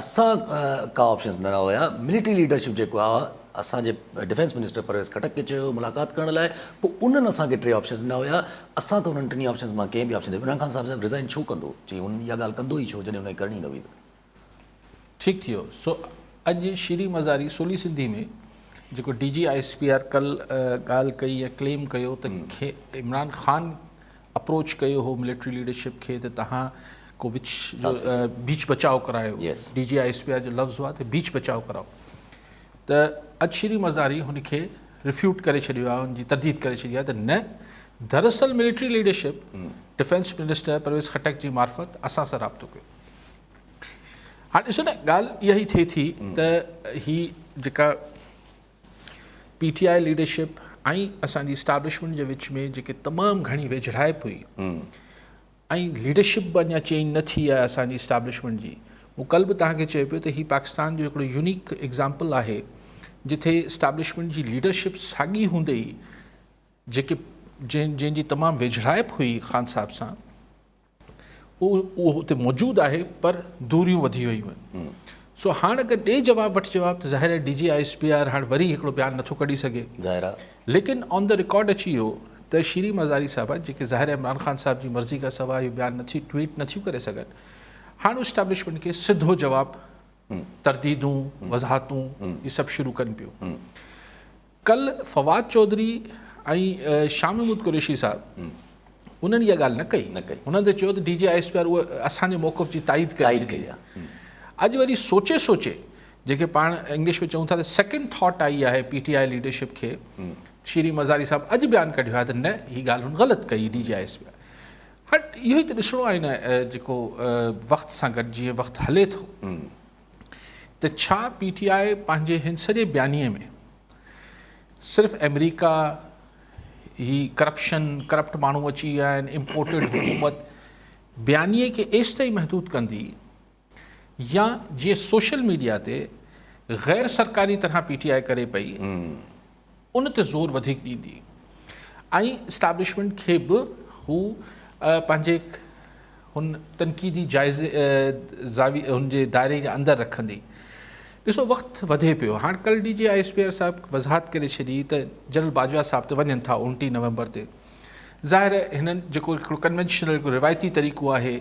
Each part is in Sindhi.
اسان ڪا آپشنز نه هيا، ملٽري ليڊرشپ جيڪو آ اسان جي ڊفينس منسٽر پرويز خٽڪ کي چيو هيو ملاقات ڪرڻ لاء پو انهن اسان کي ٽي آپشنز ڏنا هيا اسان ته انهن ٽنهي آپشنز مان ڪنهن به آپشن تي عمران خان صاحب صاحب ريزائن ڇو ڪندو چي هن اها ڳالهه ڪندو ئي ڇو جڏهن انهن کي ڪرڻي نه هئي ته ٺيڪ ٿيو سو اڄ شري مزاري سولي سنڌي ۾ جيڪو D G I S P R ڪل ڳالهه ڪئي ۽ ڪليم ڪيو ته عمران خان اپروچ ڪيو هو ملٽري ليڊرشپ کي ته تهان ڪو وچ جو بيچ بچاء ڪرايو D G I S P R جو لفظ هو ته بيچ بچاء ڪراو ته اڄ شري مزاري هن کي رفيوٽ ڪري ڇڏيو آهي هن جي ترديد ڪري ڇڏي آهي ته نه دراصل military leadership defence minister Pervez Khattak جي معرفت اسان سان رابطو ڪيو هاڻ ڏسو نه ڳالهه اها ئي ٿئي ٿي ته هي جيڪا پي ٽي آء ليڊرشپ ۽ اسان جي اسٽابلشمينٽ جي وچ ۾ جيڪي تمام گهڻي ويجهڙائپ هئي ۽ ليڊرشپ به اڃا چينج نه ٿي آهي اسان جي اسٽابلشمينٽ جي مون ڪل به تهان کي چيو پيو ته هي پاڪستان جو هڪڙو يونيڪ ايگزامپل آهي جتي اسٽابلشمينٽ جي ليڊرشپ ساڳي هوندي ئي جيڪي جن جن جي تمام ويجهڙائپ هئي خان صاحب سان اهو اتي موجود آهي پر دوريون وڌي ويون آهن سو هاڻ اگر ڏي جواب وٺ جواب ته ظاهر آهي D G I S P R هاڻ وري هڪڙو بيان نٿو ڪڍي سگهي ظاهر آهي ليڪن آن دا رڪارڊ اچي ويو ته شيرين مزاري صاحبه جيڪي ظاهر عمران خان صاحب جي مرضي کان سواء اهو بيان نٿي ٽويٽ نٿيون ڪري سگهن هاڻ اسٽيبلشمنٽ کي سڌو جواب ترديدون وضاحتون هي سڀ شروع ڪن پيون ڪل فواد چوڌري ۽ شاھ محمود قريشي صاحب انهن اها ڳالهه نه ڪئي انهن ته چيو ته D G I S P R اهو اسان جي موقف جي تائيد ڪري ڇڏي اڄ وري سوچي سوچي جيڪي پاڻ انگلش ۾ چئون ٿا ته سيڪنڊ ٿاٽ آئي آهي پي ٽي آء ليڊرشپ کي شيري مزاري صاحب اڄ بيان ڪڍيو آهي ته نه هي ڳالهه هن غلط ڪئي D G I S P R هٽ اهو ئي ته ڏسڻو آهي نه جيڪو وقت سان گڏ جيئن وقت هلي ٿو ته ڇا پي ٽي آء پنهنجي هن سڄي بيانيي ۾ صرف آمريڪا هي ڪرپشن ڪرپٽ ماڻهو اچي ويا آهن امپورٽيڊ حڪومت بيانيي کي ايستائين محدود ڪندي يا جيئن سوشل ميڊيا تي غير سرڪاري طرح پي ٽي آء ڪري پئي ان تي زور وڌيڪ ڏيندي ۽ اسٽيبلشمينٽ کي به هو پنهنجي هن تنقيدي جائزي زاويي هن جي دائري جي اندر رکندي. ڏسو وقت وڌي پيو هاڻ ڪل D G I S P R صاحب وضاحت ڪري ڇڏي ته جنرل باجوا صاحب ته وڃن ٿا اڻٽيهه نومبر تي ظاهر هنن جيڪو هڪڙو ڪنوينشنل روايتي طريقو آهي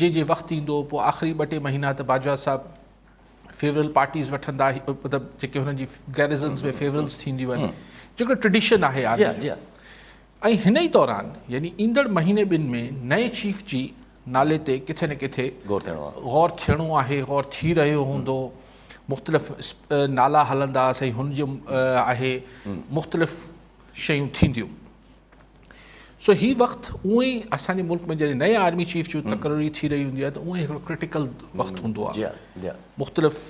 جي جي وقت ايندو پوء آخري ٻه ٽي مهينا ته باجوا صاحب فيورل پارٽيز وٺندا مطلب جيڪي هن جي گيرزنس ۾ فيورلس ٿينديون آهن جيڪو ٽريڊيشن آهي آرمي جي ۽ هن ئي دوران يعني ايندڙ مهيني ٻن ۾ نئين چيف جي نالي تي ڪٿي نه ڪٿي غور ٿيڻو آهي غور ٿي رهيو هوندو مختلف نالا هلندا سائين هن جو آهي مختلف شيون ٿينديون سو هي وقت اونئي اسان جي ملڪ ۾ جڏهن نئين آرمي چيف جي تقرري ٿي رهي هوندي آهي ته اونئي هڪڙو ڪرٽيڪل وقت هوندو آهي مختلف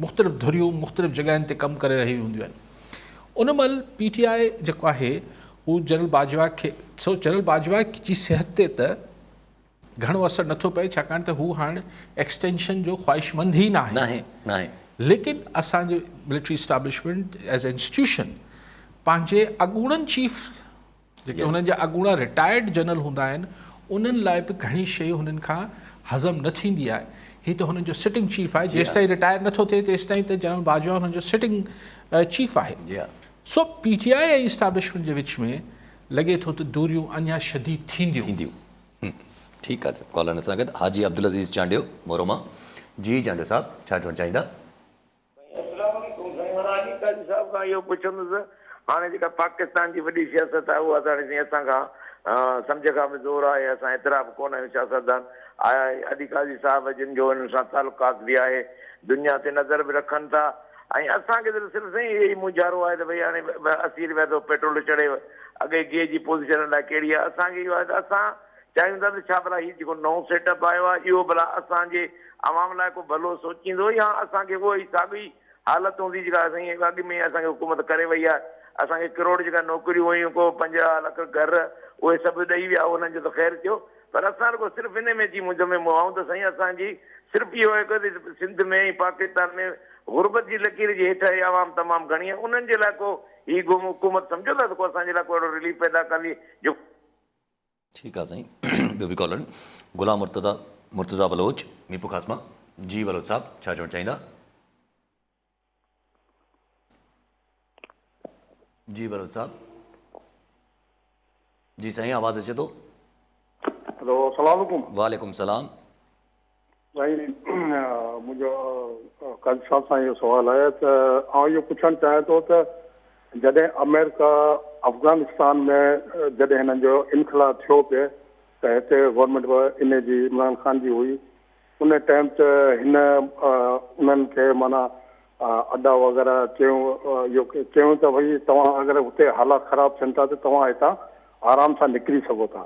مختلف ڌريون مختلف جڳهين تي ڪم ڪري رهيون هونديون آهن ان مهل پي ٽي آء جيڪو آهي هو جنرل باجوا کي سو جنرل باجوا جي صحت تي ته گهڻو اثر نه ٿو پئي ڇاڪاڻ ته هو هاڻ ايڪسٽينشن جو خواهشمند ئي ناهي ليڪن اسان جي military establishment as a institution پنهنجي اڳوڻن چيف جيڪي هنن جا اڳوڻا رٽائرڊ جنرل هوندا آهن انهن لاء به گهڻي شيء هنن کان هضم نه ٿيندي آهي هي ته هنن جو سٽنگ چيف آهي جيستائين رٽائر نٿو ٿئي تيستائين ته جنرل باجوا هنن جو سٽنگ چيف آهي سو پي ٽي آء ۽ اسٽيبلشمينٽ جي وچ ۾ لڳي ٿو ته دوريون اڃا شديد ٿينديون ٺيڪ آ سر ڪالرن سان گڏ حاجي عبدالعزيز چانڊيو مورو مان جي چانڊيو صاحب ڇا چوڻ چاهيندا. سائين اسلام عليڪم سائين مان علي قاري صاحب کان اهو پڇندس هاڻي جيڪا پاڪستان جي وڏي سياست آهي اها ته هاڻي سائين اسان کان سمجهه کان به زور آهي اسان ايترا به ڪونه آهيون سياستدان آيا علي قاضي صاحب جن جو هنن سان تعلقات به آهي دنيا تي نظر به رکن ٿا ۽ اسان کي ته صرف سائين اهي ئي مونجهارو آهي ته ڀئي هاڻي اسي روپيا ٿو پيٽرول چڙهي اڳئي گيهه جي پوزيشن الاء ڪهڙي آهي اسان کي اهو آهي ته اسان چاهيون ٿا ته ڇا ڀلا هي جيڪو نئون سيٽ اپ آيو آهي اهو ڀلا اسان جي عوام لاء ڪو ڀلو سوچيندو يا اسان کي اهو ئي ساڳي حالت هوندي جيڪا سائين اڳ ۾ اسان کي حڪومت ڪري وئي آهي اسان کي ڪروڙ جيڪا نوڪريون هيون ڪو پنجاهه لک گهر اهي سڀ ڏئي ويا انهن جو ته خير ٿيو پر اسان رڳو صرف انهي ۾ جي منجهه ۾ مون آئون ته سائين اسان جي صرف اهو آهي ڪوتي سنڌ ۾ ۽ پاڪستان ۾ غربت جي لڪير جي هيٺ اهي عوام تمام گهڻي آهي انهن جي لاء ڪو هي گم حڪومت سمجهو ٿا ته ڪو اسان جي لاء ڪو اهڙو رليف پيدا ڪندي جو ٺيڪ آ سائين ٻيو به ڪالر غلام مرتضيٰ مرتضيٰ بلوچ ميرپورخاص مان جي بلوچ صاحب ڇا چوڻ چاهيندا. جي بلوچ صاحب جي سائين آواز اچي ٿو هلو السلام عليڪم وعليڪم السلام سائين منهنجو قاضي صاحب سان اهو سوال آهي ته آئون اهو پڇڻ چاهيان ٿو ته جڏهن آمريڪا افغانستان ۾ جڏهن هنن جو انخلا ٿيو پئي ته هتي گورنمينٽ ان جي عمران خان جي هئي ان ٽائيم ته هن انهن کي معنيٰ ادا وغيره چيو اهو چيو ته ڀئي توهان اگر هتي حالات خراب ٿين ٿا ته توهان هتان آرام سان نڪري سگهو ٿا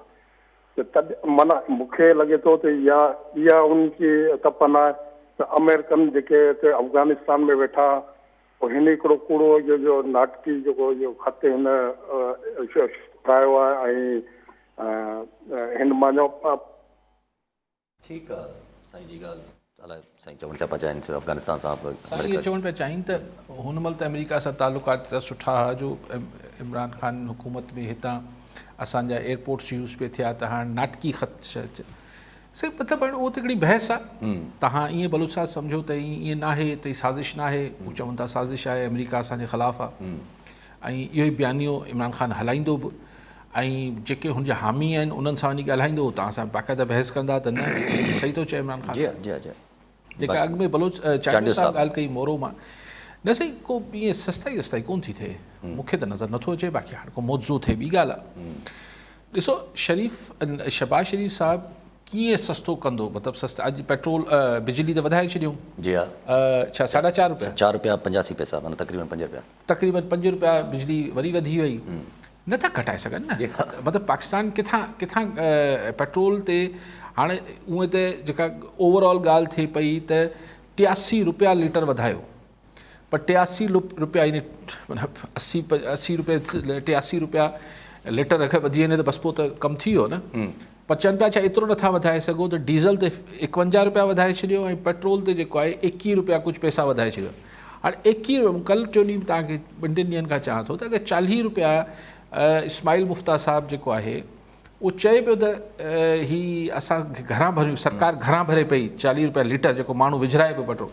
ته تڏ معنيٰ مون کي لڳي ٿو ته يا اها ان جي تپن آهي ته آمريڪن جيڪي هتي افغانستان ۾ ويٺا پوء هن هڪڙو ڪوڙو اهو جو ناٽڪي جيڪو اهو خط هن ٺاهيو آهي ۽ هن معنيٰ ٺيڪ آ سائين جي ڳالهه الاء سائين چوڻ ڇا پيا چاهين سر افغانستان سان سائين اهو چوڻ پيا چاهين ته هن مهل ته آمريڪا سان تعلقات ايترا سٺا ها جو عمران خان حڪومت ۾ هتان اسان جا ايئرپورٽس يوز پي ٿيا ته هاڻ ناٽڪي خط سر مطلب هاڻ اهو ته هڪڙي بحث آ تهان ائين بلوچ صاحب سمجهو ته ائين ناهي ته سازش ناهي هو چون ٿا سازش آهي آمريڪا اسان جي خلاف آ ۽ اهو ئي بيانيو عمران خان هلائيندو به ۽ جيڪي هن جا حامي آهن انهن سان وڃي ڳالهائيندو هو توهان سان باقاعده بحث ڪندا ته نه صحيح ٿو چئي عمران خان صاحب جيڪا اڳ ۾ بلوچ چانڊيو صاحب ڳالهه ڪئي مورو مان نه سائين ڪو ائين سستائي وستائي ڪون ٿي ٿئي مون کي ته نظر نٿو اچي باقي هاڻ ڪو معجزو ٿئي ٻي ڳالهه آهي ڏسو شريف شهباز شريف صاحب ڪيئن سستو ڪندو مطلب سست اڄ پيٽرول بجلي ته وڌائي ڇڏيو جي ها ڇا ساڍا چار روپيا چار روپيا پنجاسي پئسا مطلب تقريبن پنج روپيا تقريبن پنج روپيا بجلي وري وڌي وئي نه ٿا گهٽائي سگهن نه مطلب پاڪستان ڪٿان ڪٿان پيٽرول تي هاڻي اونئن ته جيڪا اوور آل ڳالهه ٿئي پئي ته ٽياسي روپيا ليٽر وڌايو پر ٽياسي روپيا يعني مطلب اسي اسي روپيا ٽياسي روپيا ليٽر اگهه وڌي وڃي ته بس پوء ته ڪم ٿي ويو نه پر چون پيا ڇا ايترو نه ٿا وڌائي سگهو ته ڊيزل تي ايڪونجاهه روپيا وڌائي ڇڏيو ۽ پيٽرول تي جيڪو آهي ايڪيهه روپيا ڪجهه پئسا وڌائي ڇڏيو هاڻي ايڪيهه روپيا ڪل ٽيون ڏينهن به توهان کي ٻن ٽن ڏينهن کان چوان ٿو ته اگر چاليهه روپيا اسماعيل مفتا صاحب جيڪو آهي اهو چئي پيو ته هي اسان کي گهران ڀريون سرڪار گهران ڀري پئي چاليهه روپيا ليٽر جيڪو ماڻهو وجهرائي پيو پيٽرول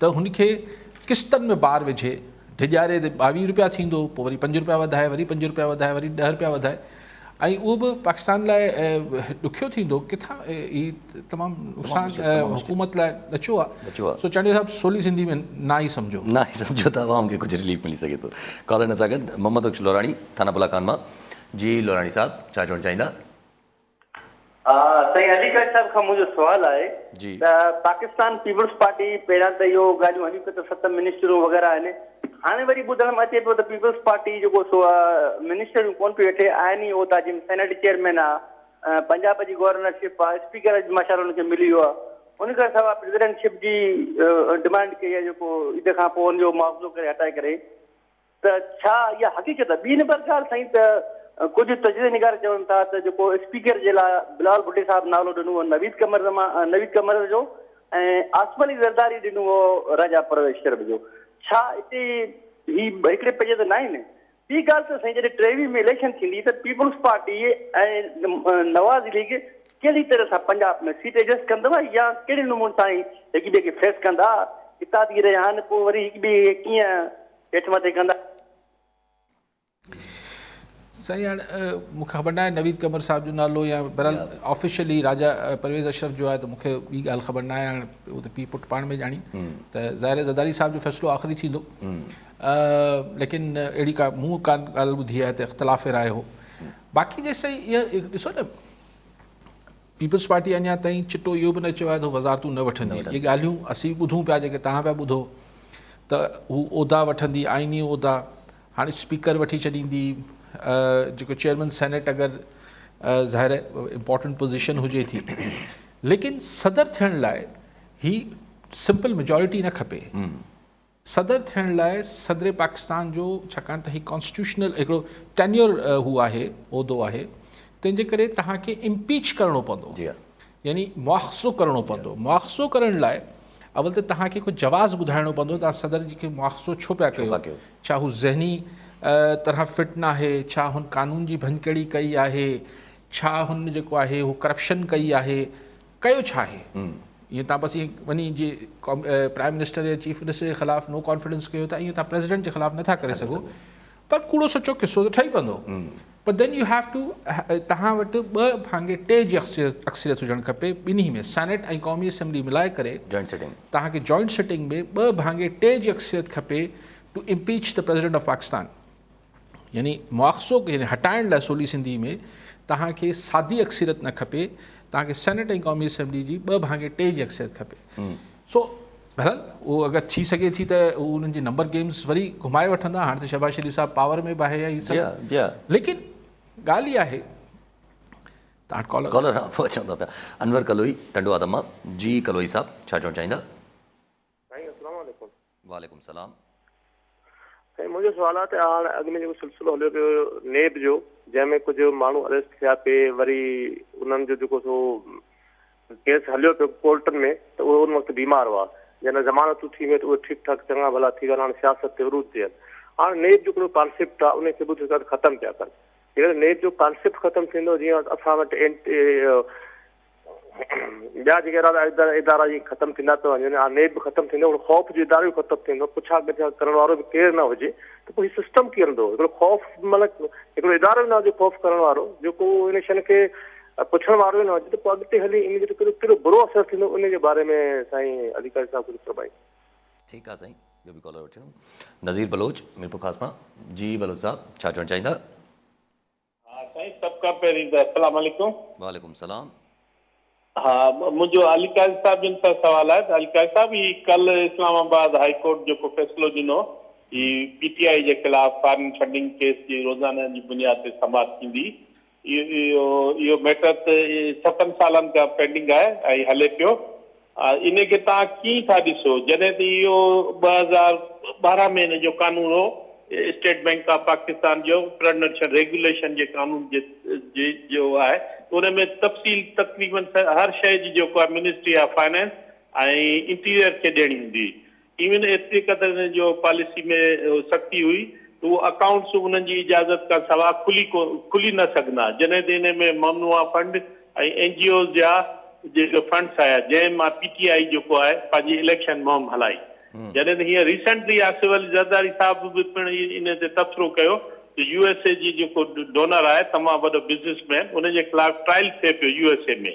ته هن کي قسطن ۾ بار وجهي ڊڄاري ته ٻاويهه روپيا ٿيندو پوء وري پنج روپيا وڌائي وري پنج روپيا وڌائي وري ڏهه روپيا وڌائي ۽ اهو به پاڪستان لاء ڏکيو ٿيندو ڪٿان هي تمام نقصان حڪومت لاء ڏچو آهي سو چانڊيو صاحب سولي سنڌي ۾ نه ئي سمجهو نه ئي سمجهو ته عوام کي ڪجهه رليف ملي سگهي ٿو ڪالر ان سان گڏ محمد بخش لوراڻي ٿانا بلا خان مان جي لوراڻي صاحب ڇا چوڻ چاهيندا سائين علي قاري صاحب کان منهنجو سوال آهي ته پاڪستان پيپلز پارٽي پهريان ته اهو ڳالهيون هليون پيون ته ست منسٽرون وغيره آهن هاڻي وري ٻڌڻ ۾ اچي پيو ته پيپلز پارٽي جيڪو سو منسٽريون ڪونه پيو وٺي آهن ئي عهدا جن سينيٽ چيئرمين آهي پنجاب جي گورنر شپ آهي اسپيڪر اڄ ماشاء الله ان کي ملي ويو آهي ان کان سواء پريزيڊنٽ شپ جي ڊمانڊ ڪئي آهي جيڪو عيد کان پوء ان جو معاوضو ڪري هٽائي ڪري ته ڇا اها حقيقت آهي؟ ٻي نمبر ڳالهه سائين ته ڪجهه تجزيي نگار چون ٿا ته جيڪو اسپيڪر جي لاء بلاول ڀٽي صاحب نالو ڏنو هو نويد قمر زمان نويد قمر جو ۽ عاصم علي زرداري ڏنو هو راجا پرويش شرم جو ڇا اتي هي هڪڙي پڄي ته ناهن ٻي ڳالهه ته سائين جڏهن ٽيوي ۾ اليڪشن ٿيندي ته پيپلز پارٽي ۽ نواز ليگ ڪهڙي طرح سان پنجاب ۾ سيٽ ايڊجسٽ ڪندو يا ڪهڙي نموني سان هڪ ٻئي کي فيس ڪندا اتحادي رهيا آهن پوء وري هڪ ٻئي کي ڪيئن هيٺ مٿي ڪندا. سائين هاڻ مون کي خبر ناهي نويد قمر صاحب جو نالو يا بهرحال آفيشلي راجا پرويز اشرف جو آهي ته مون کي ٻي ڳالهه خبر ناهي هاڻ هو ته پيء پٽ پاڻ ۾ ڄاڻين ته ظاهر زرداري صاحب جو فيصلو آخري ٿيندو ليڪن اهڙي کا مون کا ڳالهه ٻڌي آهي ته اختلاف رائي هو باقي جيسي اها ڏسو نه پيپلز پارٽي اڃا تائين چٽو اهو به نه چيو آهي ته هو وزارتون نه وٺندي، اهي ڳالهيون اسين به ٻڌون پيا جيڪي توهان پيا ٻڌو ته هو عهدا وٺندي، آئيني عهدا، هاڻي اسپيڪر وٺي ڇڏيندي، جيڪو چيئرمين سينيٽ اگر ظاهر آهي امپارٽنٽ پوزيشن هجي ٿي ليڪن صدر ٿيڻ لاء هي سمپل ميجارٽي نه کپي. صدر ٿيڻ لاء صدر پاڪستان جو ڇاڪاڻ ته هي ڪانسٽيٽيوشنل هڪڙو ٽينيور هو آهي عهدو آهي تنهن جي ڪري توهان کي امپيچ ڪرڻو پوندو يعني مواخذو ڪرڻو پوندو مواخذو ڪرڻ لاء اول ته توهان کي ڪو جواز ٻڌائڻو پوندو توهان صدر جي کي مواخذو ڇو پيا ڪيو ڇا هو ذهني طرح فٽ ناهي ڇا هن قانون جي ڀڃڪڙي ڪئي آهي ڇا هن جيڪو آهي هو ڪرپشن ڪئي آهي ڪيو ڇا آهي ائين تان بس ائين وڃي جي پرائم منسٽر يا چيف منسٽر جي خلاف نو ڪانفيڊنس ڪيو ته ائين تان پريزيڊنٽ جي خلاف نٿا ڪري سگهو پر ڪوڙو سچو قصو ته ٺهي پوندو پر دين يو هيو ٽو تهان وٽ ٻه ڀانگي ٽي جي اڪثريت هجڻ کپي ٻنهي ۾ سينيٽ ۽ قومي اسيمبلي ملائي ڪري جوائنٽ سٽنگ تهان کي جوائنٽ سٽنگ ۾ ٻه ڀانگي ٽي جي اڪثريت کپي ٽو امپيچ ته پريزيڊنٽ آف پاڪستان يعني مواخذو يعني هٽائڻ لاء سولي سنڌي ۾ توهان کي سادي اڪثريت نه کپي توهان کي سينيٽ ۽ قومي اسيمبلي جي ٻه ڀاڱي ٽي جي اڪثريت کپي سو بهرحال اهو اگر ٿي سگهي ٿي ته انهن جي نمبر گيمز وري گهمائي وٺندا هاڻ ته شهباز شريف صاحب پاور ۾ به آهي يا هي سڀ جيا جيا ليڪن ڳالهه اها آهي تان ڪالر ڪالر پهچن ٿا پيا انور ڪلوئي ٽنڊو آدم مان جي ڪلوئي صاحب ڇا چون چاهيندا سائين السلام عليڪم وعليڪم السلام. سائين منهنجو سوال آ ته هاڻ اڳ ۾ جيڪو سلسلو هليو پيو هو نيب جو جنهن ۾ ڪجهه ماڻهو اريسٽ ٿيا پي وري انهن جو جيڪو سو ڪيس هليو پيو ڪورٽن ۾ ته اهي ان وقت بيمار هئا جنهن ضمانتون ٿي ويون ته اهي ٺيڪ ٺاڪ چڱا ڀلا ٿي ويا هاڻ سياست تي عروج تي آهن هاڻ نيب جو ڪهڙو ڪانسيپٽ آ ان کي به ڏسو ختم پيا ڪن جيڪڏهن نيب جو ڪانسيپٽ ختم ٿيندو جيئن اسان وٽ ٻيا جيڪي اهڙا ادارا جي ختم ٿيندا ته وڃن ها نيب ختم ٿيندو هو خوف جو ادارو ختم ٿيندو پڇا ڳڇا ڪرڻ وارو به ڪير نه هجي ته پوء سسٽم ڪيئن هلندو هڪڙو خوف مطلب هڪڙو ادارو نه هجي خوف ڪرڻ وارو جيڪو ان شن کي پڇڻ وارو نه هجي ته پوء اڳتي هلي ان جو ڪهڙو ڪهڙو برو اثر ٿيندو ان جي باري ۾ سائين علي قاضي صاحب ڪجهه فرمائي ٺيڪ آهي سائين ٻيو به ڪالر وٺيون نذير بلوچ ميرپور خاص مان جي بلوچ صاحب ڇا چوڻ چاهيندا ها سائين سڀ کان پهرين ته السلام عليڪم. وعليڪم السلام. ها منهنجو علي قاضي صاحب جن سان سوال آهي ته علي قاضي صاحب هي ڪل اسلام آباد هائي ڪورٽ جيڪو فيصلو ڏنو هي پي ٽي آئي جي خلاف فارين فنڊنگ ڪيس جي روزاني جي بنياد تي سماعت ٿيندي اهو اهو ميٽر ته ستن سالن کان پينڊنگ آهي ۽ هلي پيو ان کي توهان ڪيئن ٿا ڏسو جڏهن ته اهو ٻه هزار ٻارهن ۾ ان جو قانون هو اسٽيٽ بئنڪ آف پاڪستان جو پرڊنشل ريگوليشن جي قانون جي جو آهي ان ۾ تفصيل تقريبن هر شيء جي جيڪو آهي منسٽري آف فائنانس ۽ انٽيريئر کي ڏيڻي هوندي هئي ايون ايتري قدر هن جو پاليسي ۾ سختي هئي ته اهو اڪائونٽس انهن جي اجازت کان سواء کلي کلي نه سگهندا جڏهن ته انهي ۾ ممنوعه فنڊ ۽ اين جي اوز جا جيڪي فنڊس آيا جنهن مان پي ٽي آئي جيڪو آهي پنهنجي اليڪشن مهم هلائي جڏهن ته هينئر ريسنٽلي آصف علي زرداري صاحب به پڻ انهي تي تبصرو ڪيو ته يو ايس اي جي جيڪو ڊونر آهي تمام وڏو بزنس مين انهي جي خلاف ٽرائل ٿئي پيو يو ايس اي ۾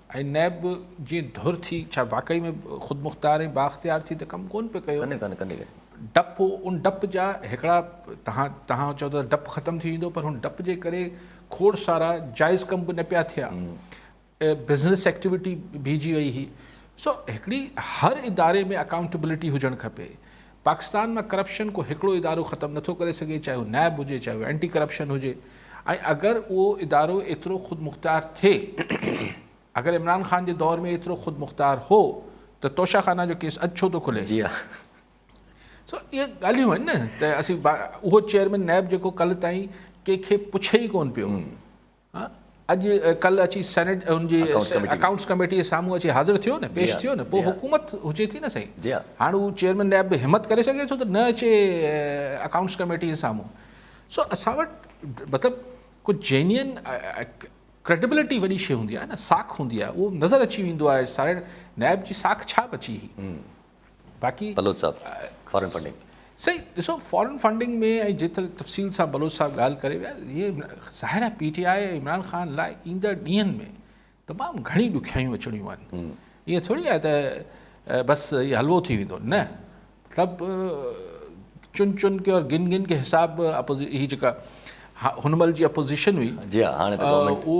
۽ نيب به جيئن ڌر ٿي ڇا واقعي ۾ خودمختار ۽ بااختيار ٿي ته ڪم ڪونه پئي ڪيو. ڪنهن ڪنهن ڪنهن ڪنهن. ڊپ ان ڊپ جا هڪڙا تهان تهان چئو ته ڊپ ختم ٿي ويندو پر هن ڊپ جي ڪري کوڙ سارا جائز ڪم به نه پيا ٿيا بزنس ايڪٽيوٽي بيهجي وئي هي سو هڪڙي هر اداري ۾ اڪائونٽيبلٽي هجڻ کپي پاڪستان مان ڪرپشن ڪو هڪڙو ادارو ختم نه ٿو ڪري سگهي چاهي هو نيب هجي چاهي هو اينٽي ڪرپشن هجي ۽ اگر اهو ادارو ايترو خودمختيار ٿئي اگر عمران خان جي دور ۾ ايترو خودمختيار هو ته توشه خانه جو ڪيس اڄ ڇو ٿو کلي جي سو اهي ڳالهيون آهن نه ته اسين اهو چيئرمين نيب جيڪو ڪل تائين ڪنهن کي پڇي ئي ڪون پيو اڄ ڪل اچي سينيٽ ان جي اڪائونٽس ڪميٽي جي سامهون اچي حاضر ٿيو نه پيش ٿيو نه پوء حڪومت هجي ٿي نه سائين هاڻ هو چيئرمين نيب به همت ڪري سگهي ٿو ته نه اچي اڪائونٽس ڪميٽي جي سامهون سو اسان وٽ مطلب ڪو جينين ڪريڊبلٽي وڏي شي هوندي آهي نه ساک هوندي آهي اهو نظر اچي ويندو آهي ساري نيب جي ساک ڇا بچي هئي باقي بلوچ صاحب فارن فنڊنگ. سائين ڏسو فارن فنڊنگ ۾ ۽ جيتري تفصيل سان بلوچ صاحب ڳالهه ڪري ويا هي ظاهر آهي P T I ۽ Imran Khan لاء ايندڙ ڏينهن ۾ تمام گهڻي ڏکيائيون اچڻيون آهن ائين ٿوري آهي ته بس هي حلوو ٿي ويندو نه مطلب چن چن کي اور گن گن کي حساب اپوزي هي جيڪا هن مهل جي اپوزيشن هئي جي هاڻي ته گورنمنٽ اهو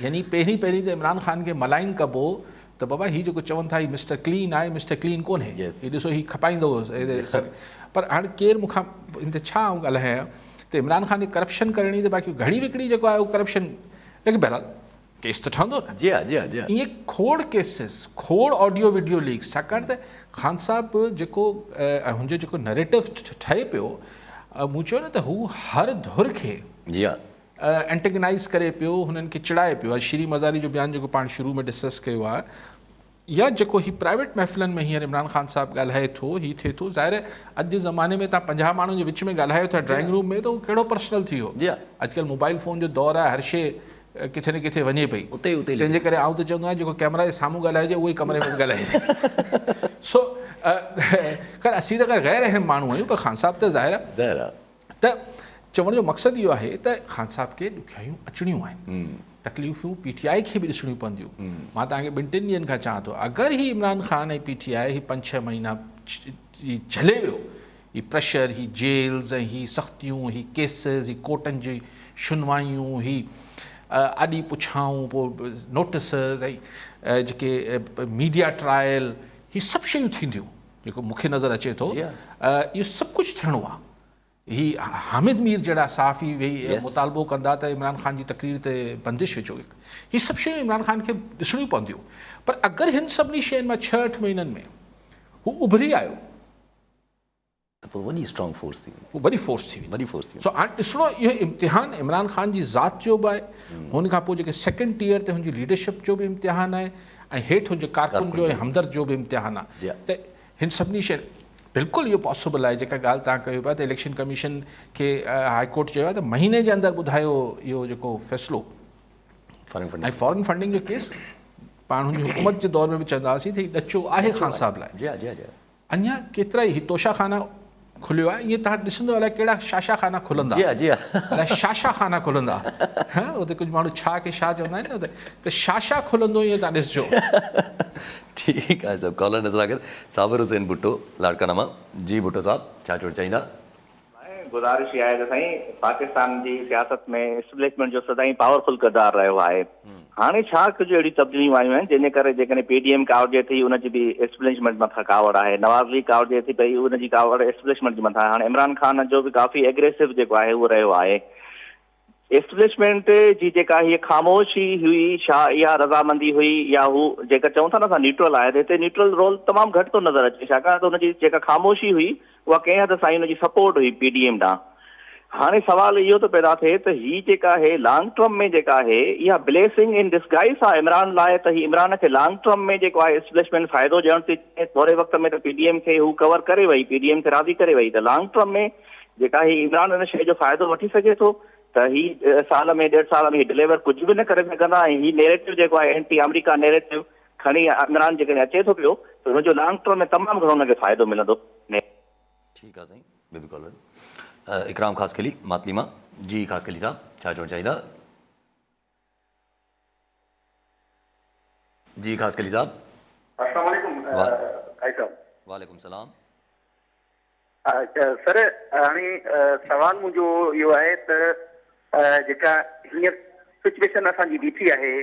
يعني پهرين پهرين ته عمران خان کي ملائن ڪبو ته بابا هي جيڪو چون ٿا هي مسٽر ڪلين آهي مسٽر ڪلين ڪونهي هي ڏسو هي کپائيندو پر هاڻي ڪير مون کان ان تي ڇا آئون ڳالهايان ته عمران خان کي ڪرپشن ڪرڻي ته باقي گهڙي وڪڙي جيڪو آهي اهو ڪرپشن ليڪن بهرحال ڪيس ته ٺهندو نه جي جي جي جي ائين کوڙ ڪيسز کوڙ آڊيو ويڊيو ليڪس ڇاڪاڻ ته خان صاحب جيڪو هن جو جيڪو نريٽو ٺهي پيو مون چيو نه ته هو هر ڌر کي جي انٽيگنائز ڪري پيو هنن کي چڙائي پيو شيرين مزاري جو بيان جيڪو پاڻ شروع ۾ ڊسڪس ڪيو آهي يا جيڪو هي پرائيويٽ محفلن ۾ هينئر عمران خان صاحب ڳالهائي ٿو هي ٿئي ٿو ظاهر اڄ جي زماني ۾ تان پنجاهه ماڻهن جي وچ ۾ ڳالهايو ٿا ڊرائنگ روم ۾ ته هو ڪهڙو پرسنل ٿي ويو جي اڄڪلهه موبائل فون جو دور آهي هر شي ڪٿي نه ڪٿي وڃي پئي اتي اتي تنهنجي ڪري آئون ته چوندو آهيان جيڪو ڪيمرا جي سامهون ڳالهائجي اهو ئي ڪمري ۾ ڳالهائجي سو خير اسين ته غير اهم ماڻهو آهيون پر خان صاحب ته ظاهر ته چوڻ جو مقصد اهو آهي ته خان صاحب کي ڏکيائيون اچڻيون آهن تڪليفون پي ٽي آء کي به ڏسڻيون پونديون مان توهان کي ٻن ٽن ڏينهن کان چوان ٿو اگر هي Imran Khan ۽ P T I هي پنج ڇهه مهينا جهلي ويو هي پريشر هي جيلز ۽ هي سختيون هي ڪيسز هي ڪورٽن جي شنوايون هي آڏي پڇائون پوء نوٽسز ۽ جيڪي ميڊيا ٽرائل هي سڀ شيون ٿينديون جيڪو مون کي نظر اچي ٿو اهو سڀ ڪجهه ٿيڻو آهي هي حامد مير جهڙا صحافي ويهي مطالبو ڪندا ته عمران خان جي تقرير تي بندش وجهو هي سڀ شيون عمران خان کي ڏسڻيون پونديون پر اگر هن سڀني شين مان ڇهه اٺ مهينن ۾ هو اڀري آيو ته پوء وڏي اسٽرانگ فورس ٿي ويندي وڏي فورس ٿي ويندي وڏي فورس ٿي سو هاڻي ڏسڻو اهو امتحان عمران خان جي ذات جو به آهي هن کان پوء جيڪي سيڪنڊ ٽيئر تي هن جي ليڊرشپ جو به امتحان آهي ۽ هيٺ هن جي ڪارڪن جو ۽ همدرد جو به امتحان آ ته هن سڀني شين بلڪل اهو پاسبل آهي جيڪا ڳالهه توهان ڪيو پيا ته اليڪشن ڪميشن کي هاء ڪورٽ چيو آهي ته مهيني جي اندر ٻڌايو اهو جيڪو فيصلو ۽ فارن فنڊنگ جو ڪيس پاڻ هن جي حڪومت جي دور ۾ به چوندا هئاسين ته هي ڏچو آهي خان صاحب لاء اڃا ڪيترائي هي توشا خانه کليو آهي ائين تهان ڏسندو الاء ڪهڙا شاشا خانه کلندا الاء شاشا خانه کلندا اتي ڪجهه ماڻهو ڇا کي شا چوندا آهن نه اتي ته شاشا کلندو ائين تهان ڏسجو. ٺيڪ آهي صاحب ڪالر نظر آخر صابر حسين ڀٽو لاڙڪاڻه مان جي ڀٽو صاحب ڇا چوڻ چاهيندا. ۽ گذارش اها آهي ته سائين پاڪستان جي سياست ۾ اسٽيبلشمينٽ جو سدائين پاور فل ڪردار رهيو آهي هاڻي ڇا ڪجهه اهڙيون تبديليون آيون آهن جنهن جي ڪري جيڪڏهن پي ڊي ايم ڪاوڙجي ٿي ان جي به اسٽيبلشمينٽ مٿان ڪاوڙ آهي نواز ليگ ڪاوڙجي ٿي پئي ان جي ڪاوڙ اسٽيبلشمينٽ جي مٿان آهي هاڻي عمران خان جو به ڪافي ايگريسو جيڪو آهي اهو رهيو آهي اسٽبلشمينٽ جي جيڪا هيء خاموشي هئي، ڇا اها رضامندي هئي يا هو جيڪا چئون ٿا نه اسان نيوٽرل آهي ته هتي نيوٽرل رول تمام گهٽ ٿو نظر اچي ڇاڪاڻ ته ان جي جيڪا خاموشي هئي اها ڪنهن حد سائين ان جي سپورٽ هئي پي ڊي ايم ڏانهن. هاڻي سوال اهو ٿو پيدا ٿئي ته هي جيڪا آهي لانگ ٽرم ۾ جيڪا آهي اها بليسنگ ان ڊسگائيس آهي عمران لاء ته هي عمران کي لانگ ٽرم ۾ جيڪو آهي اسٽبلشمينٽ فائدو ڏيڻ ٿي چاهي ٿوري وقت ۾ ته پي ڊي ايم کي هو ڪور ڪري وئي پي ڊي ايم کي راضي ڪري وئي ته لانگ ٽرم ۾ جيڪا هي عمران ان شيء جو فائدو وٺي سگهي ٿو ته هي سال ۾ ڏيڍ سال ۾ هي ڊليور ڪجهه به نه ڪري سگهندا ۽ هي نيريٽو جيڪو آهي اينٽي آمريڪا نيريٽو کڻي عمران جيڪڏهن اچي ٿو پيو ته ان جو لانگ ٽرم ۾ تمام گهڻو ان کي فائدو ملندو. ٺيڪ آ سائين ٻيو به ڪالر اڪرام خاصخيلي ماتلي مان جي خاصخيلي صاحب ڇا چوڻ چاهيندا. جي خاصخيلي صاحب. السلام عليڪم ڀائي صاحب. وعليڪم السلام. سر هاڻي سوال منهنجو اهو آهي ته جيڪا هينئر سچويشن اسان جي بيٺي آهي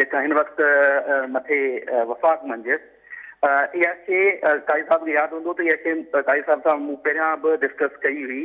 جيڪا هن وقت مٿي وفاق منجهه اها شيء قاضي صاحب کي ياد هوندو ته اها شيء قاضي صاحب سان مون پهريان به ڊسڪس ڪئي هئي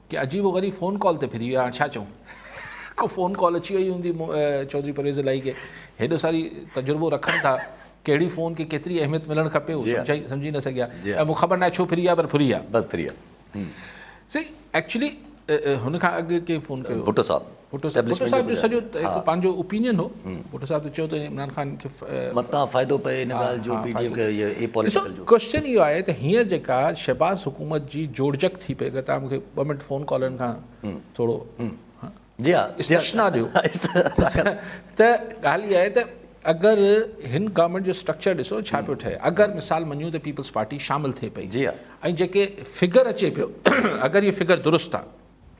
ڪي عجيب و غريب فون ڪال تي ڦري ويا هاڻ ڇا چئون ڪو فون ڪال اچي وئي هوندي چوڌري پرويز الاهي کي هيڏو ساري تجربو رکن ٿا ڪهڙي فون کي ڪيتري اهميت ملڻ کپي هو سمجهائي سمجهي نه سگهيا ۽ مون خبر ناهي ڇو ڦري ويا پر ڦري ويا بس ڦري ويا سي ايڪچولي هن کان اڳ ڪنهن فون ڪيو ڀٽو صاحب اسٽيبلشمينٽ جو گذاريو. بٽو صاحب جو سڄو هڪ پنهنجو اوپينين هو. بٽو صاحب ته چيو ته عمران خان کي. متان فائدو پئي ان ڳالهه جو پي ڊي ايم کي اي پوليٽيڪل جو. ڪوشچن اهو آهي ته هينئر جيڪا شهباز حڪومت جي جوڙجڪ ٿي پئي اگر تان مون کي ٻه منٽ فون ڪالرن کان ٿورو جي ها استشنا ڏيو ته ڳالهه اها آهي ته اگر هن گورنمينٽ جو اسٽرڪچر ڏسو ڇا پيو ٺهي اگر مثال مڃون ته پيپلز پارٽي شامل ٿئي پئي جي ها ۽ جيڪي فگر اچي پيو اگر اهي فگر درست آهن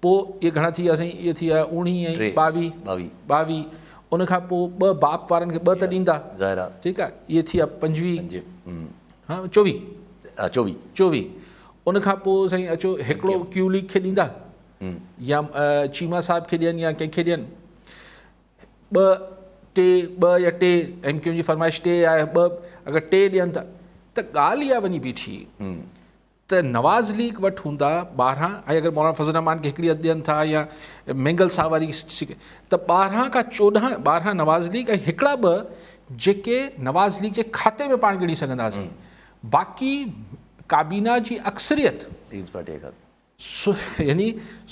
پوء اهي گهڻا ٿي ويا سائين؟ اهي ٿي ويا اوڻيهه ۽ ٻاويهه، ٻاويهه، ان کان پوء ٻه باپ وارن کي ٻه ته ڏيندا، ٺيڪ آهي، اهي ٿي ويا پنجويهه، چوويهه، چوويهه، ان کان پوء سائين اچو هڪڙو ڪيو ليگ کي ڏيندا يا چيما صاحب کي ڏين يا ڪنهن کي ڏين، ٻه، ٽي، ٻه يا ٽي، ايم ڪيو جي فرمائش ٽي آهي، ٻه، اگر ٽي ڏين ٿا ته ڳالهه اها وڃي بيٺي ته نواز ليگ وٽ هوندا ٻارهن ۽ اگر مولانا فضل الرحمان کي هڪڙي اڌ ڏين ٿا يا مينگل صاحب واري ته ٻارهن کان چوڏهن ٻارهن نواز ليگ ۽ هڪڙا ٻه جيڪي نواز ليگ جي کاتي ۾ پاڻ ڳڻي سگهنداسين باقي ڪابينا جي اڪثريت پيپلز پارٽي کاتي يعني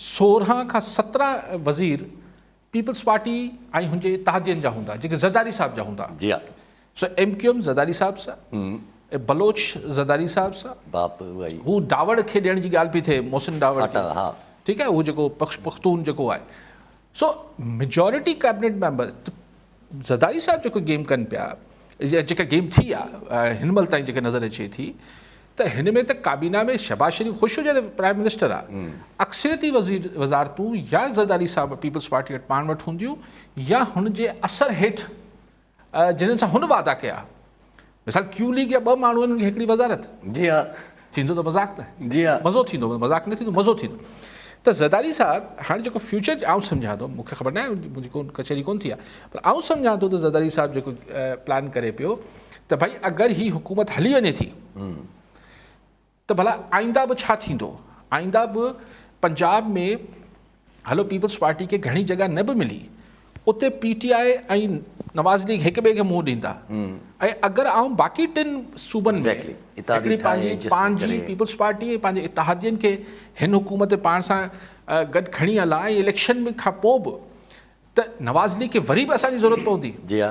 سورهن کان سترهن وزير پيپلز پارٽي ۽ هن جي اتحادين جا هوندا جيڪي زرداري صاحب جا هوندا جي ها. سو M Q M Zardari sahib سا ۽ بلوچ زرداري صاحب سا باپ اها ئي هو ڊاوڙ کي ڏيڻ جي ڳالهه پئي ٿئي محسن ڊاوڙ کي فاٽا ها ٺيڪ آهي هو جيڪو پخش پختون جيڪو آهي سو majority cabinet member Zardari sahib جيڪو گيم ڪن پيا جيڪا گيم ٿي آهي هن مهل تائين جيڪا نظر اچي ٿي ته هن ۾ ته ڪابينا ۾ شهباز شريف خوش هجي ته پرائم منسٽر آ، اڪثريتي وزير وزارتون يا زرداري صاحب پيپلز پارٽي وٽ پاڻ وٽ هونديون يا هن جي اثر هيٺ جنھن سان هن وعدا ڪيا مثال ڪيو ليگ جا ٻه ماڻھو آهن هڪڙي وزارت جي ها ٿيندو ته مذاق نه جي ها مزو ٿيندو مذاق نه ٿيندو مزو ٿيندو ته زرداري صاحب هاڻي جيڪو فيوچر آئون سمجھان ٿو مونکي خبر نه آهي منھنجي ڪون ڪچهري ڪون ٿي آهي پر آئون سمجھان ٿو ته زرداري صاحب جيڪو پلان ڪري پيو ته ڀئي اگر هي حڪومت هلي وڃي ٿي ته ڀلا آئنده به ڇا ٿيندو آئنده به پنجاب ۾ هلو پيپلز پارٽي کي گهڻي جڳهه نه به ملي اتي P T I ۽ Nawaz League هڪ ٻئي کي منهن ڏيندا ۽ اگر آئون باقي ٽن صوبن ۾ هڪڙي پنهنجي پنهنجي پيپلز پارٽي ۽ پنهنجي اتحادين کي هن حڪومت پاڻ سان گڏ کڻي هلان ۽ اليڪشن کان پوء به ته نواز ليگ کي وري به اسان جي ضرورت پوندي جي ها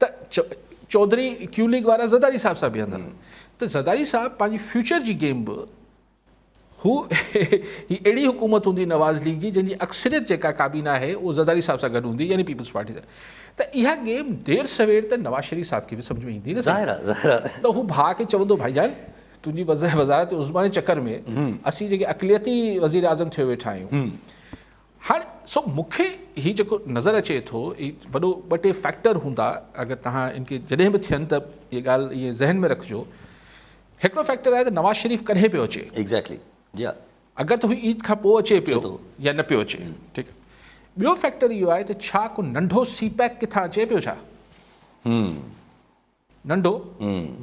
ته چوڌري ڪيو ليگ وارا زرداري صاحب سان بيهندا ته زرداري صاحب پنهنجي فيوچر جي گيم به هو هي اهڙي حڪومت هوندي نواز ليگ جي جنهن جي اڪثريت جيڪا ڪابينا آهي اهو زرداري صاحب سان گڏ هوندي يعني پيپلز پارٽي سان ته اها گيم دير سوير ته نواز شريف صاحب کي به سمجھ ۾ ايندي نه ظاهر آهي ظاهر آهي ته هو ڀاء کي چوندو ڀائي جان تنهنجي وزارت عظميٰ جي چڪر ۾ اسين جيڪي اقليتي وزير اعظم ٿيو ويٺا آهيون هاڻي سو مون کي هي جيڪو نظر اچي ٿو هي وڏو ٻه ٽي فيڪٽر هوندا اگر توهان ان کي جڏهن به ٿين ته هي ڳالهه ائين ذهن ۾ رکجو هڪڙو فيڪٽر آهي ته نواز شريف ڪڏهن پيو اچي ايگزيڪٽلي جي ها اگر ته هو عيد کان پوء اچي پيو يا نه پيو اچي ٺيڪ آهي ٻيو فيڪٽر اهو آهي ته ڇا ڪو ننڍو سي پيڪ ڪٿان اچي پيو ڇا؟ ننڍو،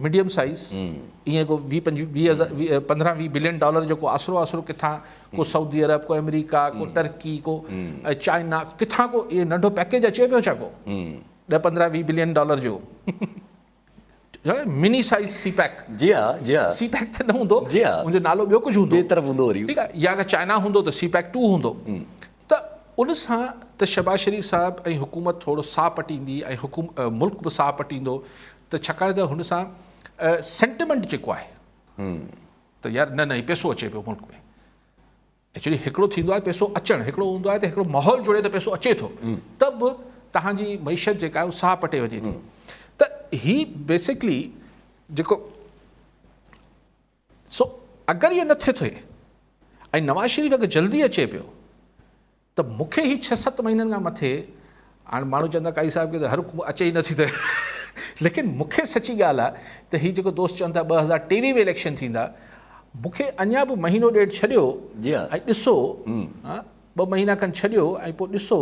ميڊيم سائيز، ايئن ڪو ويهه پنجويهه پندرهن ويهه بلين ڊالر جو ڪو آسرو آسرو ڪٿان ڪو سعودي عرب ڪو آمريڪا ڪو ٽرڪي ڪو چائنا ڪٿان ڪو ايئن ننڍو پيڪيج اچي پيو ڇا ڪو ڏهه پندرهن ويهه بلين ڊالر جو مني سائيز سي پيڪ جي ها جي ها سي پيڪ ته نه هوندو جي ها ان جو نالو ٻيو ڪجهه هوندو ٻي طرف هوندو وري ٺيڪ آهي يا اگر چائنا هوندو ته سي پيڪ ٽو هوندو ته ان سان ته شهباز شريف صاحب ۽ حڪومت ٿورو ساهه پٽيندي ۽ ملڪ به ساهه پٽيندو ته ڇاڪاڻ ته هن سان سينٽيمنٽ جيڪو آهي ته يار نه نه هي پيسو اچي پيو ملڪ ۾ ايڪچولي هڪڙو ٿيندو آهي پيسو اچڻ هڪڙو هوندو آهي ته هڪڙو ماحول جوڙي ته پيسو اچي ٿو ته به تهانجي معيشت جيڪا آهي ساهه پٽي وڃي ٿي ته هي بيسڪلي جيڪو سو اگر اهو نه ٿي ٿو ۽ نواز شريف اگر جلدي اچي پيو ته مون کي هي ڇهه ست مهينن کان مٿي هاڻ ماڻهو چوندا قاضي صاحب کي ته هر حڪومت اچي ئي نه ٿي ته ليڪن مون کي سچي ڳالهه آهي ته هي جيڪو دوست چون ٿا ٻه هزار ٽيويهه ۾ اليڪشن ٿيندا مون کي اڃا به مهينو ڏيڍ ڇڏيو ۽ ڏسو ٻه مهينا کن ڇڏيو ۽ پوء ڏسو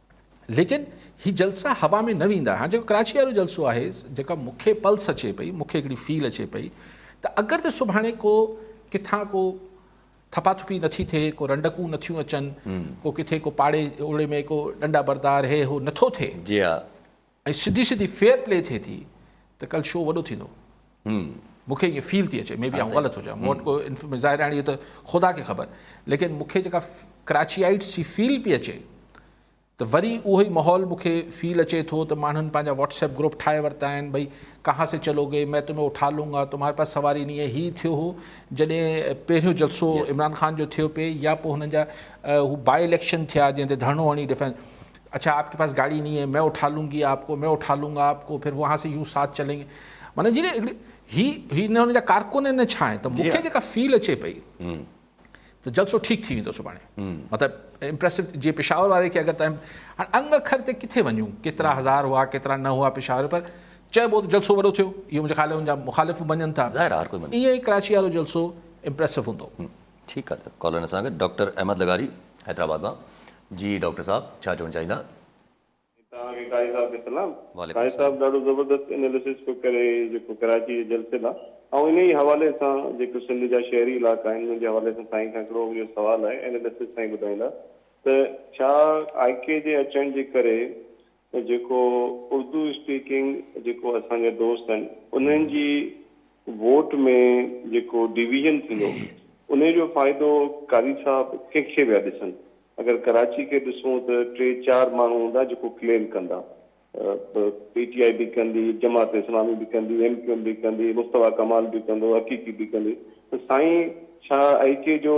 ليڪن هي جلسا هوا ۾ نه ويندا هاڻ جيڪو ڪراچي وارو جلسو آهي جيڪا مون کي پلس اچي پئي مون کي هڪڙي فيل اچي پئي ته اگر ته سڀاڻي ڪو ڪٿان ڪو ٿپا ٿپي نٿي ٿئي ڪو رنڊڪون نٿيون اچن ڪو ڪٿي ڪو پاڙي اوڙي ۾ ڪو ڏنڊا بردار هي هو نٿو ٿئي جي ها ۽ سڌي سڌي فيئر پلي ٿئي ٿي ته ڪل شو وڏو ٿيندو مون کي ائين فيل ٿي اچي مي بي آئون غلط هجان مون وٽ ڪو انفرميشن ظاهر هاڻي اهو ته خدا کي خبر ليڪن مون کي جيڪا ڪراچيائيٽس جي فيل پئي اچي ته وري اهو ئي ماحول مون کي فيل اچي ٿو ته ماڻهن پنهنجا واٽس ايپ گروپ ٺاهي ورتا آهن ڀئي ڪها سي چلو گي مين تمهين اٺا لون گا تمهاري پاس سواري ني هي ٿيو هو جڏهن پهريون جلسو عمران خان جو ٿيو پئي يا پوء هنن جا هو باء اليڪشن ٿيا جنهن تي ڌرڻو هڻي ڊفينس اڇا آپ ڪي پاس گاڙي نھي ھي مين اٺا لون گي آپ ڪو مين اٺا لون گا آپ ڪو پھر وھان سي يون ساٿ چلين گي معنيٰ جي ھڪڙي ھي ھي نھ ھن جا ڪارڪن ھين نھ ڇا ھين تھ مون کي جيڪا فيل اچي پئي تھ جلسو ٺيڪ ٿي ويندو سڀاڻي مطلب امپريسو جي پشاور واري کي اگر تھ ھاڻي انگ اکر تي ڪٿي وڃون ڪيترا ھزار ھئا ڪيترا نھ ھئا پشاور پر چئبو تھ جلسو وڏو ٿيو اھو منھنجي خيال ھن جا مخالف بھ مڃن ٿا ظاھر ھر ڪوئي مڃي ائين ئي ڪراچي وارو جلسو امپريسو ھوندو ٺيڪ آ ته ڪالرن سان گڏ ڊاڪٽر احمد لغاري حيدرآباد مان جي ڊاڪٽر صاحب ڇا چوڻ چاهيندا. توهان کي قاضي صاحب کي سلام قاضي صاحب ڏاڍو زبردست انيليسس پيو ڪري جيڪو ڪراچي جي جلسي لا آئون انهي ئي حوالي سان جيڪو سنڌ جا شهري علائقا آهن انهن جي حوالي سان سائين کان هڪڙو اهو سوال آهي انيليسس سائين ٻڌائيندا ته ڇا آء ڪي جي اچڻ جي ڪري ته جيڪو اردو اسپيڪنگ جيڪو اسان جا دوست آهن انهن جي ووٽ ۾ جيڪو ڊويزن ٿيندو انهي جو فائدو قاري صاحب ڪنهن کي ويا ڏسن اگر ڪراچي کي ڏسون ته ٽي چار ماڻهو هوندا جيڪو ڪليم ڪندا پي ٽي آئي به ڪندي جماعت اسلامي به ڪندي ايم ڪيو ايم به ڪندي مصطفيٰ ڪمال به ڪندو حقيقي به ڪندي ته سائين ڇا آئي ڪي جو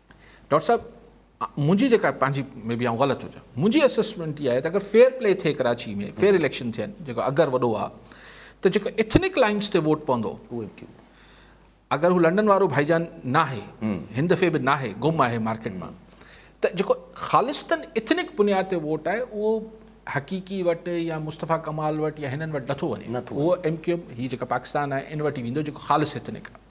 ڊاڪٽر صاحب منهنجي جيڪا پنهنجي مي بي آئون غلط هجان منهنجي اسسمنٽ اها آهي ته اگر فيئر پلي ٿئي ڪراچي ۾ فيئر اليڪشن ٿين جيڪو اگر وڏو آهي ته جيڪو اٿنڪ لائنس تي ووٽ پوندو اهو به اگر هو لنڊن وارو ڀائي جان نه آهي هن دفعي به نه آهي گم آهي مارڪيٽ مان ته جيڪو خالصتن اٿنڪ بنياد تي ووٽ آهي اهو حقيقي وٽ يا مصطفيٰ ڪمال وٽ يا هنن وٽ نٿو وڃي اهو ايم ڪيو ايم هي جيڪا پاڪستان آهي ان وٽ ئي ويندو جيڪو خالص اٿنڪ آهي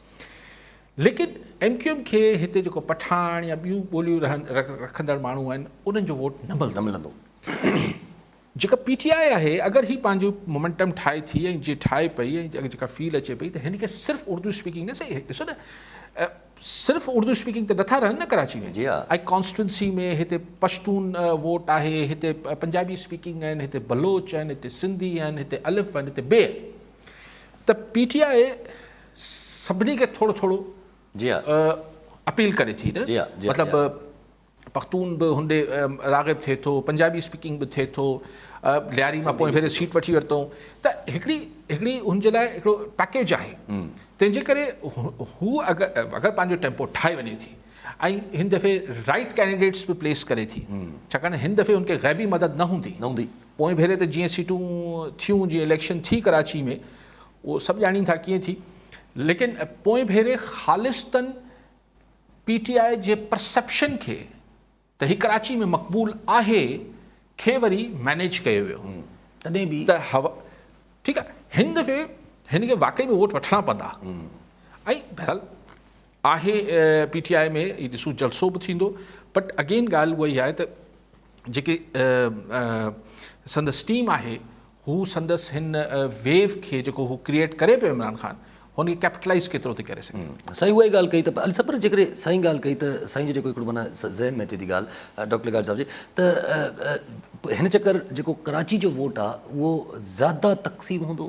ليڪن ايم ڪيو ايم کي هتي جيڪو پٺاڻ يا ٻيون ٻوليون رکندڙ ماڻهو آهن انهن جو ووٽ نه ملندو. جيڪا پي ٽي آء آهي اگر هي پنهنجو مومينٽم ٺاهي ٿي ۽ جي ٺاهي پئي ۽ اگر جيڪا فيل اچي پئي ته هن کي صرف اردو اسپيڪنگ نه سهي ڏسو نه صرف اردو اسپيڪنگ ته نٿا رهن نه ڪراچي ۾ ۽ ڪانسٽيوئنسي ۾ هتي پشتون ووٽ آهي هتي پنجابي اسپيڪنگ آهن هتي بلوچ آهن هتي سنڌي آهن هتي الف آهن هتي بي ته پي ٽي آء سڀني کي ٿورو ٿورو اپيل ڪري ٿي نه مطلب پختون به هوندي راغب ٿئي ٿو پنجابي اسپيڪنگ به ٿئي ٿو لياري مان پوئين ڀيري سيٽ وٺي ورتئون ته هڪڙي هڪڙي هن جي لاء هڪڙو پيڪيج آهي تنهن جي ڪري هو اگر اگر پنهنجو ٽيمپو ٺاهي وڃي ٿي ۽ هن دفعي رائٽ ڪينڊيڊيٽس به پليس ڪري ٿي ڇاڪاڻ هن دفعي هن کي غيبي مدد نه هوندي نه هوندي پوئين ڀيري ته جيئن سيٽون ٿيون جيئن اليڪشن ٿي ڪراچي ۾ اهو سڀ ڄاڻين ٿا ڪيئن ٿي ليڪن پوئين ڀيري خالصتن پي ٽي آء جي پرسيپشن کي ته هي ڪراچي ۾ مقبول آهي کي وري مينيج ڪيو ويو تڏهن به ته هوا ٺيڪ آهي هن دفعي هن کي واقعي ۾ ووٽ وٺڻا پوندا ۽ بهرحال آهي پي ٽي آء ۾ هي ڏسو جلسو به ٿيندو بٽ اگين ڳالهه اها ئي آهي ته جيڪي سندس ٽيم آهي هو سندس هن ويو کي جيڪو هو ڪريئيٽ ڪري پيو عمران خان هن کي ڪيپٽلائيز ڪيترو ٿي ڪري سگهي. سائين اها ئي ڳالهه ڪئي ته علي صاحب پر جيڪڏهن سائين ڳالهه ڪئي ته سائين جو جيڪو هڪڙو معنيٰ ذهن ۾ اچي ٿي ڳالهه ڊاڪٽر لغاري صاحب جي ته هن چڪر جيڪو ڪراچي جو ووٽ آهي اهو زياده تقسيم هوندو؟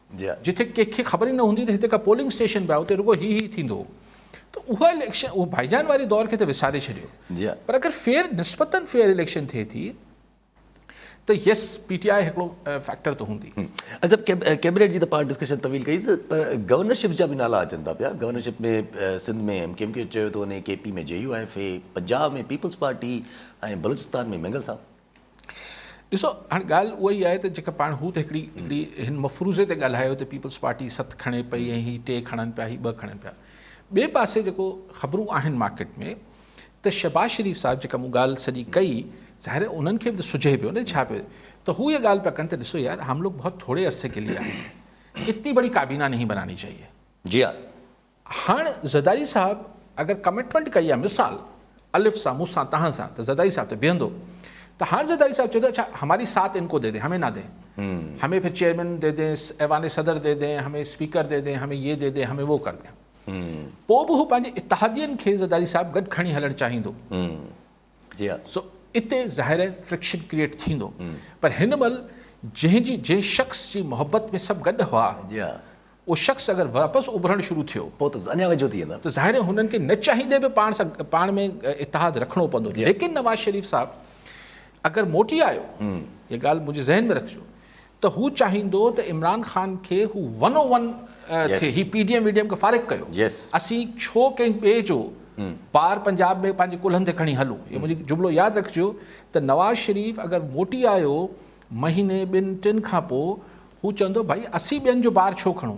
جتي ڪنهن کي خبر ئي نه هوندي ته هتي ڪا پولنگ اسٽيشن به آهي اتي رڳو هي هي ٿيندو ته اها اليڪشن اهو ڀائيجان واري دور کي ته وساري ڇڏيو پر اگر فيئر نسبتن فيئر اليڪشن ٿئي ٿي ته يس پي ٽي آء هڪڙو فيڪٽر ته هوندي اجب ڪيبنيٽ جي ته پاڻ ڊسڪشن طويل ڪئي پر گورنرشپ جا به نالا اچن ٿا پيا گورنرشپ ۾ سنڌ ۾ ايم ڪيم ڪيو چيو ٿو وڃي K P ۾ J U F اي پنجاب ۾ پيپلز پارٽي ۽ بلوچستان ۾ مينگل صاحب ڏسو هاڻي ڳالهه اها ئي آهي ته جيڪا پاڻ هو ته هڪڙي هڪڙي هن مفروضي تي ڳالهايو ته پيپلز پارٽي ست کڻي پئي ۽ هي ٽي کڻن پيا هي ٻه کڻن پيا ٻئي پاسي جيڪو خبرون آهن مارڪيٽ ۾ ته شهباز شريف صاحب جيڪا مون ڳالهه سڄي ڪئي ظاهر انهن کي به ته سجهي پيو نه ڇا پيو ته هو اها ڳالهه پيا ڪن ته ڏسو يار هم لوگ بهت ٿوري عرصي کي لي آهي اتني بڙي ڪابينا نهي بناني چاهيي جي ها هاڻ زرداري صاحب اگر ڪمٽمينٽ ڪئي آ مثال الف سان مون سان توهان سان ته زرداري صاحب ته بيهندو ته هاڻ زرداري صاحب چوي ٿو اڇا هماري ساٿ ان ڪو دي دين همي نه دين همي ڦر چيئرمين دي دين ايوان صدر دي دين همي اسپيڪر دي دين همي يي دي دين همي وو ڪر دين پو به هو پنهنجي اتحادين کي زرداري صاحب گڏ کڻي هلڻ چاهيندو جي ها. سو اتي ظاهر آهي فرڪشن ڪريئيٽ ٿيندو پر هن مهل جنهن جي جنهن شخص جي محبت ۾ سڀ گڏ هئا جي ها. اهو شخص اگر واپس اڀرڻ شروع ٿيو پوء ته اڃا ويجهو ٿي ويندا. ته ظاهر آهي هنن کي نه چاهيندي به پاڻ سان پاڻ ۾ اتحاد رکڻو پوندو جي ها. ليڪن نواز شريف صاحب اگر موٽي آيو هيء ڳالهه منهنجي ذهن ۾ رکجو ته هو چاهيندو ته عمران خان کي هو ون او ون ٿئي هي پي ڊي ايم وي ڊي ايم کي فارغ ڪيو اسين ڇو ڪنهن ٻئي جو بار پنجاب ۾ پنهنجي ڪلهن تي کڻي هلون هي منهنجي جملو ياد رکجو ته نواز شريف اگر موٽي آيو مهيني ٻن ٽن کان پوء هو چوندو ڀائي اسين ٻين جو بار ڇو کڻون.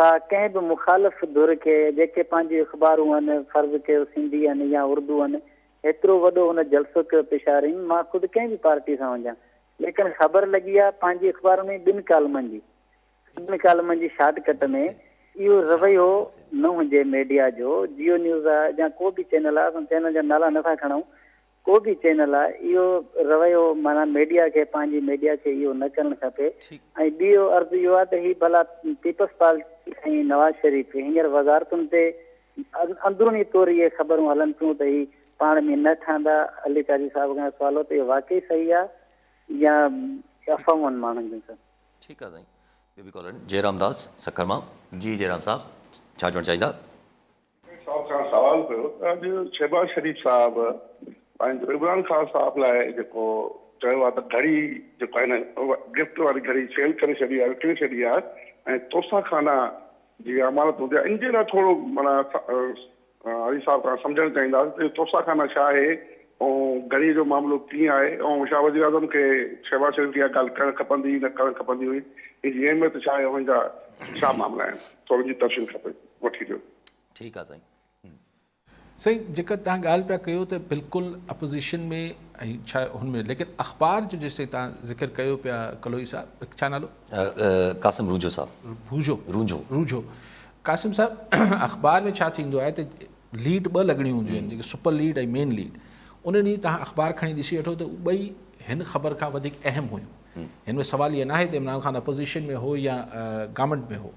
ٿا ڪنهن به مخالف ڌر کي جيڪي پنهنجون اخبارون هن فرض ڪيو سنڌي هن يا اردو هن هيترو وڏو هن جلسو ڪيو پشارين مان خود ڪنهن به پارٽي سان هجان ليڪن خبر لڳي آ پنهنجي اخبارن ۾ ٻن ڪالمن جي ٻن ڪالمن جي شارٽ ڪٽ ۾ اهو رويو نه هجي ميڊيا جو جيو نيوز آ جا ڪو به چينل آ اسان چينل جا نالا نه ٿا کڻون ڪو به چينل آ اهو رويو معنيٰ ميڊيا کي پنهنجي ميڊيا کي اهو نه ڪرڻ کپي ۽ ٻيو عرض اهو آ ته هي ڀلا پيپلز پارٽي ۽ نواز شريف هينئر وزارتن تي اندروني طور اهي خبرون هلن ٿيون ته هي پاڻ ۾ نه ٺهندا علي قاضي صاحب کان سوال هو ته اهو واقعي صحيح آ يا افواهون ماڻهن جون سڀ. ٺيڪ آ سائين ٻيو به ڪالر آهن جئرام داس سکر مان جي جئرام صاحب ڇا چوڻ چاهيندا. مير صاحب کان سوال ڪيو ته اڄ شهباز شريف صاحب پنهنجو عمران خان صاحب لاء جيڪو چيو آهي ته گهڙي جيڪو آهي نه گفٽ واري گهڙي سيل ڪري ڇڏي آهي وڪڻي ڇڏي آهي ۽ توسا خانا جي امانت هوندي آهي ان جي لاء ٿورو مانا علي صاحب کان سمجهڻ چاهينداسين ته توسا خانا ڇا آهي ۽ گهڙي جو معاملو ڪيئن آهي ۽ شاهه وزيراعظم کي شهباز شريف کي اها ڳالهه ڪرڻ کپندي نه ڪرڻ کپندي هئي ان جي اهميت ڇا آهي ان جا ڇا معاملا آهن ٿورو ان جي تفصيل کپي. وٺي ڏيو. ٺيڪ آ سائين. سائين جيڪا تان ڳالھ پيا ڪيو ته بلڪل اپوزيشن ۾ ۽ ڇا هن ۾ ليڪن اخبار جو جيسين تان ذڪر ڪيو پيا ڪلوئي صاحب ڇا نالو؟ قاسم رونجهو صاحب. ڀوجهو. رونجهو. رونجهو. قاسم صاحب اخبار ۾ ڇا ٿيندو آهي ته ليڊ ٻه لڳڻيون هونديون آهن جيڪي سپر ليڊ ۽ مين ليڊ ان ڏينهن تان اخبار کڻي ڏسي وٺو ته اهي ٻئي هن خبر کان وڌيڪ اهم هيون هن ۾ سوال اهي ناهي ته عمران خان اپوزيشن ۾ هو يا گورنمنٽ ۾ هو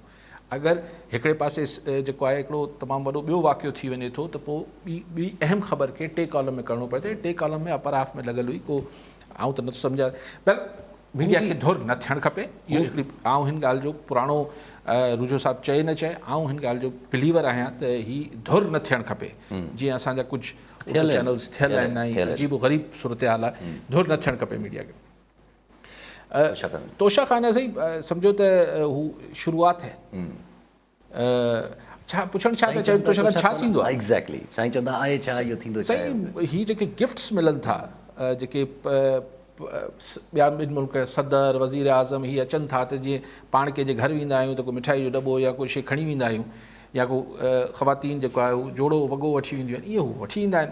اگر هڪڙي پاسي جيڪو آهي هڪڙو تمام وڏو ٻيو واقعو ٿي وڃي ٿو ته پوء ٻي ٻي اهم خبر کي ٽي ڪالم ۾ ڪرڻو پوي ٿو ۽ ٽي ڪالم ۾ اپر هاف ۾ لڳل هئي ڪو آئون ته نٿو سمجهان بهرحال ميڊيا کي ڌر نه ٿيڻ کپي اهو هڪڙي آئون هن ڳالهه جو پراڻو روجو صاحب چئي نه چئي آئون هن ڳالهه جو بليور آهيان ته هي ڌر نه ٿيڻ کپي جيئن اسان جا ڪجهه چينلز ٿيل آهن عجيب و غريب صورتحال آهي ڌر نه ٿيڻ کپي ميڊيا کي توشا خان سائين سمجھو ته هو شروعات هي ڇا پڇڻ ڇا ٿا چاهيو توشا خان ڇا ٿيندو آهي ايگزيڪٽلي سائين چوندا آهي ڇا اهو ٿيندو ڇا سائين هي جيڪي گفٽس ملن ٿا جيڪي ٻيا ٻن ملڪ صدر وزير اعظم هي اچن ٿا ته جيئن پاڻ ڪنهن جي گهر ويندا آهيون ته ڪو مٺائي جو دٻو يا ڪو شي کڻي ويندا آهيون يا ڪو خواتين جيڪو آهي جوڙو وڳو وٺي وينديون آهن ائين هو وٺي ايندا آهن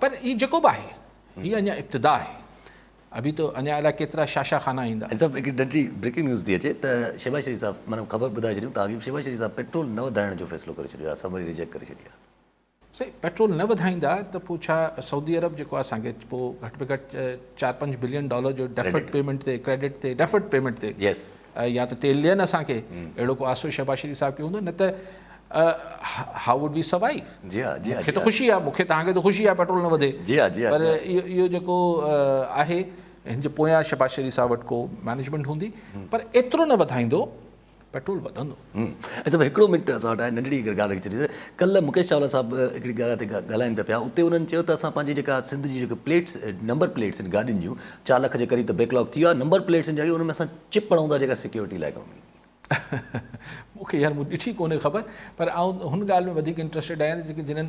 پر هي جيڪو به آهي هي اڃا ابتدا آهي ابي تو اڃا الائي ڪيترا شاشا خانا ايندا. هيڊ صاحب هڪڙي ننڍڙي بريڪنگ نيوز ٿي اچي ته شهباز شريف صاحب معنيٰ خبر ٻڌائي ڇڏيون ته آگهي شهباز شريف صاحب پيٽرول نه وڌائڻ جو فيصلو ڪري ڇڏيو آهي اسان وري ريجيڪٽ ڪري ڇڏي آهي. سائين پيٽرول نه وڌائيندا ته پوء ڇا سعودي عرب جيڪو آهي اسان کي پوء گهٽ ۾ گهٽ چار پنج بلين ڊالر جو ڊيفرڊ پيمنٽ تي ڪريڊٽ تي ڊيفرڊ پيمنٽ تي يا ته تيل ڏين اسان کي اهڙو ڪو آسو شهباز شريف صاحب کي هوندو نه ته هاء ووڊ وي سروائيو مون کي ته خوشي آهي مون کي توهان کي ته خوشي آهي پيٽرول نه وڌي پر اهو جيڪو آهي هن جي پويان شهباز شريف صاحب وٽ ڪو مينجمينٽ هوندي پر ايترو نه وڌائيندو پيٽرول وڌندو سائين صاحب هڪڙو منٽ اسان وٽ آهي ننڍڙي اگر ڳالهه ڪري ڇڏي ڪلهه مڪيش چاولا صاحب هڪڙي ڳالهه تي ڳالهائين پيا پيا اتي انهن چيو ته اسان پنهنجي جيڪا سنڌ جي جيڪي پليٽس نمبر پليٽس آهن گاڏين جون چار لک جي قريب ته بيڪ لاڪ ٿي ويو آهي نمبر پليٽس جاڳي ان ۾ اسان چپ هڻون ٿا جيڪا سيڪيورٽي لاء ڪم ايندي مون کي يار مون ڏٺي ڪونهي خبر پر آئون هن ڳالهه ۾ وڌيڪ انٽرسٽيڊ آهيان جيڪي جنهن